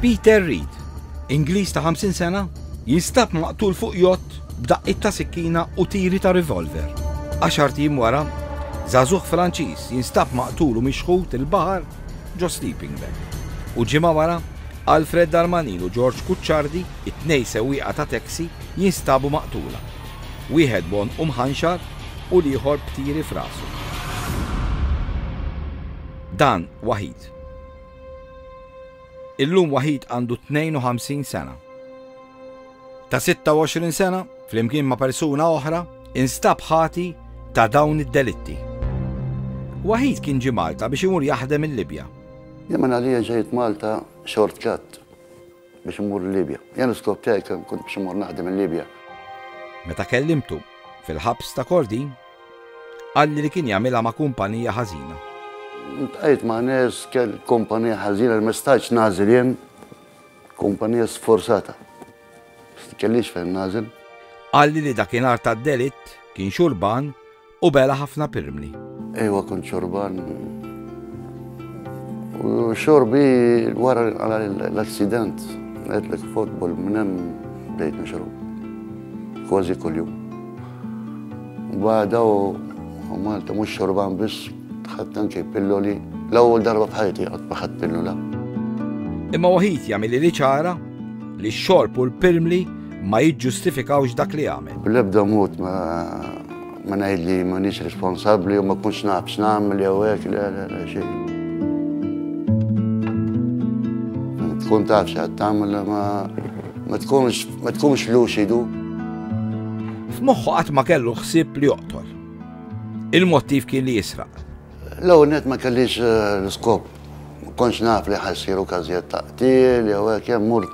Peter Reed, Ingliż ta' 50 sena, jinstab maqtul fuq jott b'daqqit ta' sikkina u tiri ta' revolver. Għaxar tim wara, Zazuħ Franċiż jinstab maqtul u mixħut il-bahar ġo sleeping bag. U ġimgħa wara, Alfred Darmanin u George Kuċċardi, it-tnej sewwieqa ta' taxi, jinstabu maqtula. Wieħed bon u mħanxar u l-ieħor b'tiri f'rasu. Dan waħid. Illum waħid għandu 52 sena. Ta' 26 sena, flimkien ma' persuna oħra, instab ħati ta' dawn id-delitti. Waħid kien ġie Malta biex imur jaħdem il-Libja. Jemmen Alija ġejt Malta shortcut. biex immur il-Libja. Jien l-iskop tiegħi kien kont biex immur naħdem il-Libja. Meta kellimtu fil-ħabs ta' Kordin, qalli li kien jagħmilha ma' kumpanija ħażina. Ntqajt ma' nies kell kumpanija ħażina li ma stajtx nagħżel jien kumpanija sforzata. Kellix fejn nagħżel. Qalli li dakinhar tad-delitt kien xurban U bela ħafna pirmli. Ejwa kont xorban. U xorbi wara l-accident, għedlek fotbol minnem bdejt nixrob. Kważi kull-jum. Bada u Malta mux xorban biss, tħadd anke pilloli. L-ewwel darba bħajti għad maħad pillola. Imma waħid jagħmel li ċara li x-xorb u l-pirmli ma jiġġustifikawx dak li għamel. Bl-ebda mod ma Ma ngħid li m'għandix responsabbli u ma kunx naf x'nagħmel jew hekk le le le xejn. Tkun taf x'għad tagħmel ma ma tkunx ma tkunx luċidu. F'moħħu qatt ma kellu ħsieb li joqtol. Il-mottiv kien li jisraq. L-ewwel net ma kellix eh, l-iskop. Ma kontx naf li ħassiru każijiet ta' qtil jew hekk hemm mur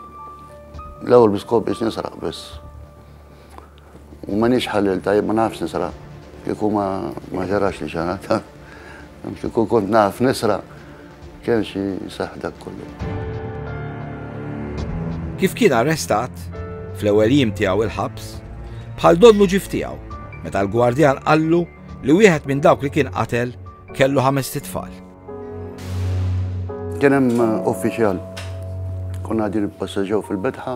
l-ewwel biskop biex nisraq biss. M'għandniex ħalli l-tajjeb ma nafx nisraq. Kieku ma ma ġarax li xi ħadd. Kieku kont naf nisraq kien xi seħħ dak kollu. Kif kien arrestat, fl-ewwel jiem tiegħu il-ħabs, bħal donnu ġif tiegħu, meta l-gwardjan qallu li wieħed minn dawk li kien qatel kellu ħames titfal. Kien hemm uh, uffiċjal, konna qegħdin nipassaġġew fil-betħa,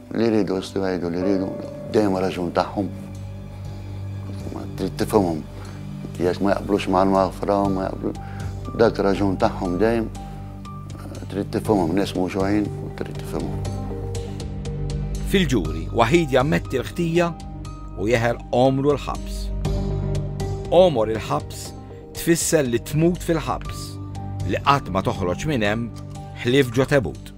Li jridu jistgħu jgħidu li jridu, dejjem raġun tagħhom. Ma trid tifhimhom jekk ma jaqblux mal-maħfra, ma jaqblu. Dak raġun tagħhom dejjem eh, trid tifhimhom nies mhux għajn, trid tifhimhom. Fil-ġuri, waħid jammetti l-ħtija u jeħel omru l-ħabs. Omor il-ħabs tfisser li tmut fil-ħabs, li qatt ma toħroġ minn hemm ħlief ġo tebut.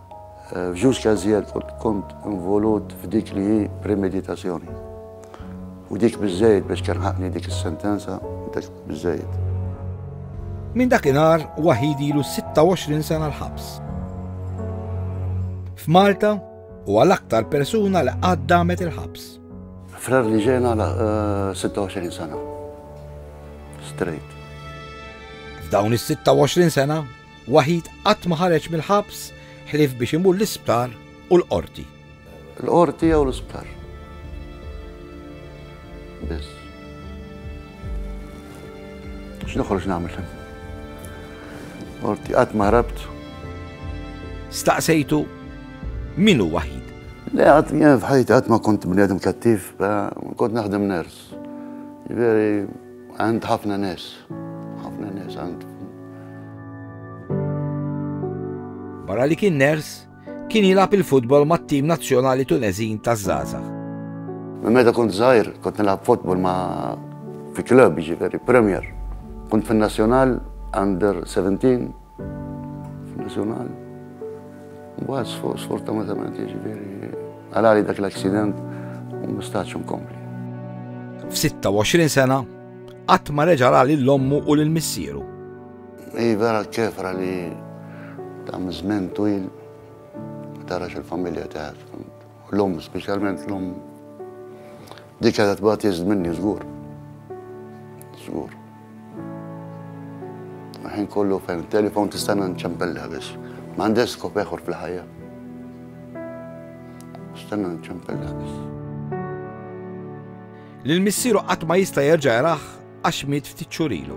F'just każijiet kont involut f'dik li hi premeditazzjoni. U dik biżżejjed biex telħaqni dik is-sentenza, dik biżżejjed. Minn dakinhar Waħid ilu 26 sena l-ħabs. F'Malta huwa l-aktar persuna li qatt damet il-ħabs. Frar li ġejna 26 eh, sena. Straight. F'dawn is-26 sena Waħid qatt ma ħareġ mill-ħabs ħlief biex imur l-isptar u l-qorti. Il-qorti jew l-isptar. Biss. X'noħroġ nagħmel hemm? Qorti qatt ma rabt. Staqsejtu min hu waħid? Le, għad f'ħajti għad ma kont bniedem kattiv, kont naħdem ners. Veri, għand ħafna nes. ħafna nes għand. Barra li kien ners, kien jilab il-futbol mat-tim nazzjonali Tunezin ta' Zaza. Meta kont zaħir, kont nilab futbol ma' fi klub, ġifiri, Premier. Kont fin-Nazzjonal under 17 F'Nazzjonal. Mbagħad sfortunatament jiġifieri għalali dak l-aksident u mistax nkompli. F'26 sena qatt ma reġa' ra lil ommu u lil missieru. Hi vera ċefra li ta' żmien twil tarax il-familja tiegħek. L-omm, speċjalment l-omm, dik għadha tbagħat iżd minni żgur. Żgur. Ħin kollu fejn telefon tista' nċempellha biss. Ma għandek skop eħor fl-ħajja. Stanna nċempellha biss. Lil missieru qatt ma jista' jerġa' jaraħ għax miet ftit xurilu.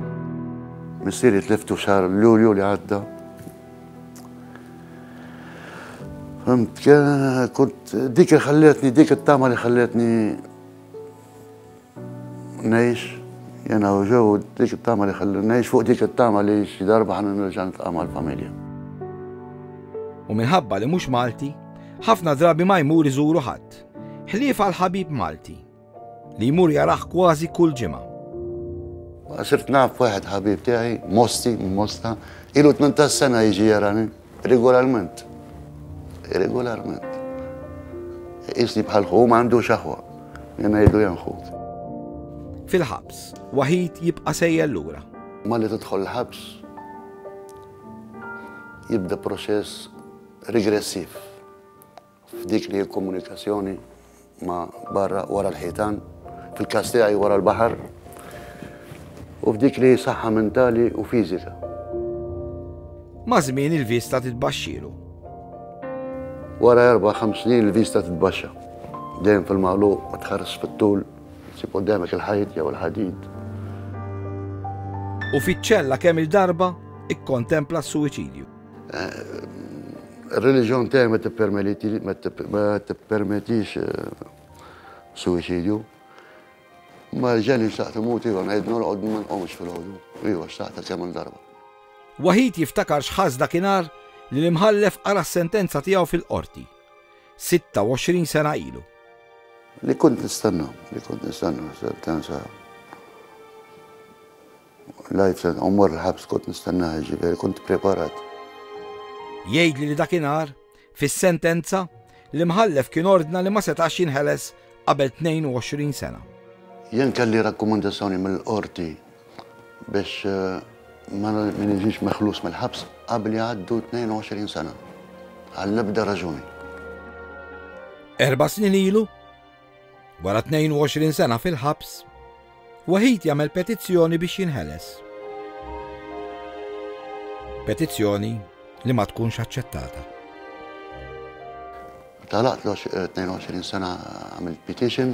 Missieri tliftu xar Lulju li għadda Fimt, kont dik li ħalletni, dik it-tama li ħalletni nejx, jena u ġew, dik it-tama li ħalletni nejx, fuq dik it-tama li xi darba ħan nirġan tqama l-familja. U minħabba li mhux Malti, ħafna drabi ma jmur iżuru ħadd. Ħlief għal ħabib Malti. Li jmur jarah kważi kull ġimgħa. Sirt naf wieħed ħabib tiegħi, Mosti, Mosta, ilu 18 sena jiġi jarani, regolarment. Regolarment. Isni bħal ħu ma għandu xaħwa, jena jidu janħut. Fil-ħabs, waħid jibqa sejja l-lura. Ma li tidħol l-ħabs, jibda proċess regressiv. f'dik li hi l-komunikazzjoni ma' barra wara l-ħitan, fil-każ tiegħi wara l-baħar, u f'dik li hi saħħa mentali u fiżika. Ma' żmien il-vista titbaxxilu. Wara erba' ħames snin il-vista titbaxxa. Dejjem fil-magħluq ma tħares fit-tul, sib quddemek il-ħajt jew il-ħadid. U fiċ-ċella kemm il-darba ikkontempla s-suwiċidju. Ir-reliġjon tiegħi ma tippermeliti ma tippermetix eh, suwiċidju. Ma ġeni xtaqt imut iva ngħid norqod ma nqomx fil-ħodu. Iva xtaqt kemm darba. Waħid jiftakar x'ħass dakinhar li l-imħallef qara s-sentenza tiegħu fil-qorti. 26 sena ilu. Li kont nistenna, li kont nistenna sentenza L-għid se mmur il-ħabs kont nistennaha, jiġifieri kont ippreparat. Jgħidli li dakinhar, fis-sentenza, l-Imħallef kien ordna li ma setax jinħeles qabel 22 sena. Jien kelli rakkomandazzjoni mill-Qorti biex ma niġix meħlus mill-ħabs qabel jgħaddu 22 sena, għall-ebda raġuni. Erba' snin ilu, Wara 22 sena fil-ħabs, Wahid jagħmel petizzjoni biex jinħeles. Petizzjoni li ma tkunx aċċettata. Talaqt l-22 eh, sena għamil petition.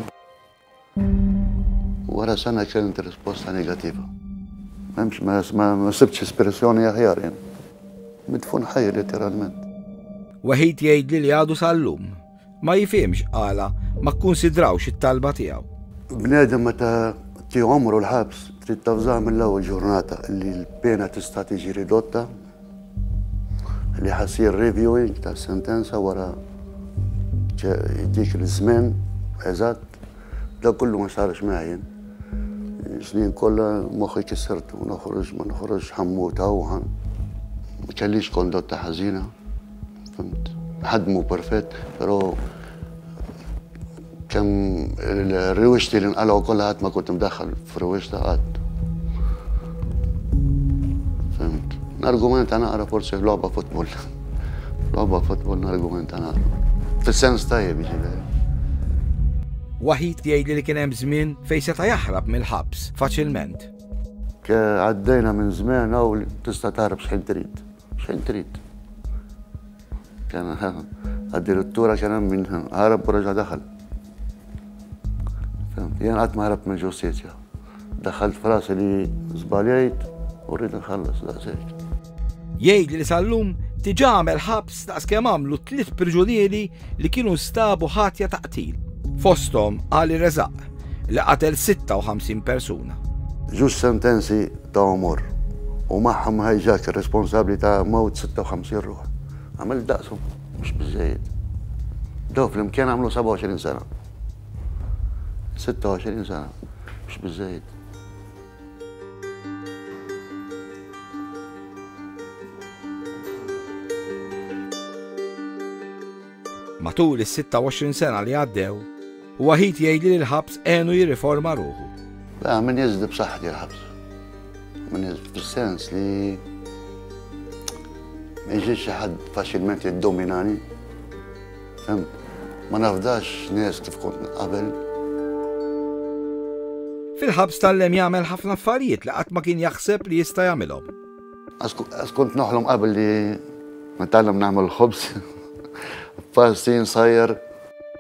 Wara sena kellimt risposta negativa. Memx ma sibx espressjoni aħjar jen. Midfun ħaj literalment. Wahid jgħid li li għadu sal-lum Ma jifhimx għala ma kkunsidrawx it-talba tiegħu. Bniedem meta tieħu għomru l-ħabs trid tavżah mill-ewwel ġurnata li l-pena tista' tiġi ridotta li ħasir reviewing ta' sentenza wara dik l-żmen eżatt da kullu ma sarx meħjin. Snin kollha moħħi kissertu noħroġ ma noħroġ ħammuta u ħan. Kellix kondotta ħażina. Ħadmu perfett, però kemm il-riwixti li nqalgħu kollha ħadd ma kont imdaħħal f'riwixta qatt. Fimt. Nargumenta naqra forsi logħba futbol. Logħba futbol nargumenta naqra. Fis-sens tajjeb ġifieri. Waħid jgħidli li kien hemm żmien fejn seta' jaħrab mill-ħabs faċilment. Għaddejna minn żmien hawn tista' taħrab x'ħin trid. Xejn trid. Addirittura kien hemm min ħarab u reġa' daħal. Jien qatt ma ħarab mill-ġustizzja. Daħħalt frasi li żbaljajt u rrid nħallas daqshekk. Jgħid li sal-lum diġà għamel ħabs daqs kemm għamlu tliet priġunieri li kienu nstabu ħatja ta' qtil. Fosthom Ali Rezaq. li qatel 56 persuna. Żewġ sentenzi ta' għomor u magħhom hijack responsabbli ta' mewt 56 ruħ. Għamel daqshom, mhux biżżejjed. Dawn flimkien għamlu 27 sena. 26 sena, mhux biżżejjed. Matul is-26 sena li għaddew, Waħid jgħidli li l-ħabs għenu jirriforma ruħu. La, min jeżdi b'saħħti l-ħabs. Min jeżdi fis-sens li ma jiġix xi ħadd faċilment jiddominani. Fem, ma nafdax nies kif kont qabel. Fil-ħabs tal-lem jagħmel ħafna affarijiet li qatt ma kien jaħseb li jista' jagħmilhom. Għax kont noħlom qabel li nitgħallem nagħmel il-ħobż, pasti, nsajjar.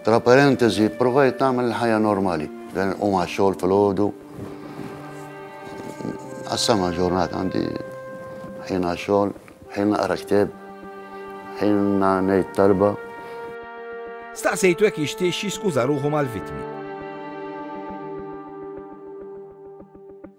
Tra parentesi, provajt nagħmel il-ħajja normali. Dan u ma' xogħol fil-ħodu. Għassama ġurnata għandi ħin xogħol, ħin naqra kteb, ħin ngħid talba. Staqsejtu jekk jixtiex jiskuża ruħu mal-vittmi.